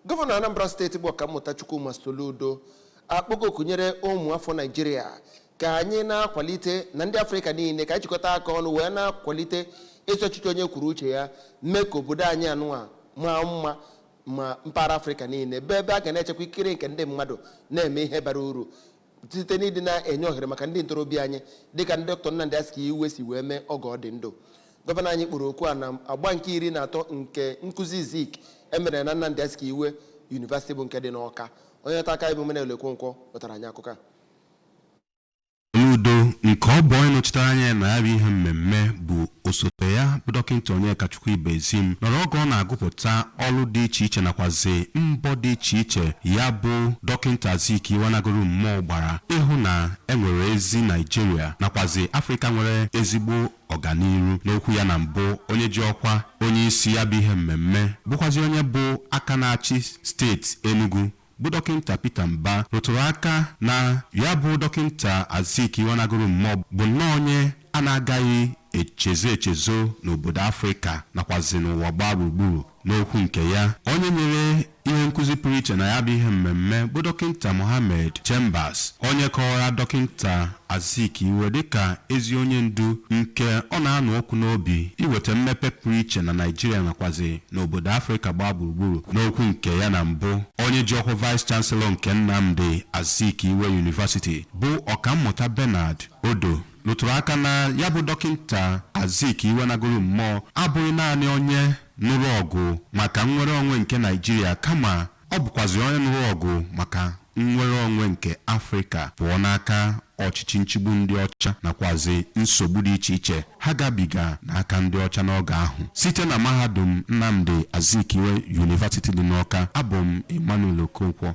Gọvanọ Anambra steeti bụ Ọkammụta Chukwuma Soludo akpọgo oku nyere ụmụafọ Naijiria ka anyị na-akwalite na ndị Afrịka niile ka anyị jikọta aka ọnụ wee na-akwalite ezi ọchịchị onye kwuru uche ya mee ka obodo anyị anụnwa maa mma ma mpaghara Afrịka niile bụ ebe a ga na-echekwa ikikere nke ndị mmadụ na-eme ihe bara uru site n'ịdị na-enye ohere maka ndị ntorobịa anyị dịka ndị dọkịta Nnamdi Azikiwe si wee mee oge ọ dị ndụ gọvanọ anyị kpọrọ oku a na agba nke iri na atọ nke nkụzi Zik emere na Nnamdi Azikiwe yunivasịtị bụ nke dị n'Ọka onye nta akụkọ bụ Emmanuel Okonkwo wetara anyị akụkọ a Soludo nke ọ bụ onye nọchitere anya na ya bụ ihe mmemme bụ osote ya bụ dọkịnta Onyekachukwu Ibezim nọrọ oge ọ na-agụpụta ọrụ dị iche iche nakwazi mbọ dị iche iche ya bụ dọkịnta Azikiwe nagoro mmụọ gbara ịhụ na enwere ezi Naijiria nakwazi Afrịka nwere ezigbo ọganiru n'okwu ya na mbụ onye ji ọkwa onye isi ya bụ ihe mmemme bụkwazi onye bụ aka na-achị steeti Enugu bụ dọkịnta Peter Mbah rụtụrụ aka na ya bụ dọkịnta Azikiwe nagoro mmụọ bụ nnọọ onye a na-agaghị echezo echezo n'obodo Afrịka nakwazi n'ụwa gbaa gburugburu n'okwu nke ya onye nyere ihe nkụzi pụrụ iche na ya bụ ihe mmemme bụ dọkịnta Mohammed Chambas onye kọwara dọkịnta Azikiwe dịka ezi onye ndu nke ọ na-anụ ọkụ n'obi iweta mmepe pụrụ iche na Naịjirịa nakwazi n'obodo Afrịka gbaa gburugburu. N'okwu nke ya na mbụ, onye ji ọkwa Vice Chancellor nke Nnamdi Azikiwe University bụ Ọkammụta Bernard Odoh rụtụrụ aka na ya bụ Dọkịnta Azikiwe nagoro mmụọ abụghị naanị onye nụrụ ọgụ maka nnwere onwe nke Naịjirịa kama Ọ bụkwazị onye nụrụ ọgụ maka nnwere onwe nke Afrịka pụọ n'aka ọchịchị nchigbu ndị ọcha nakwazị nsogbu dị iche iche ha gabiga n'aka ndị ọcha n'oge ahụ. Site na mahadum Nnamdi Azikiwe University dị n'Awka, abụ m Emmanuel Okonkwo.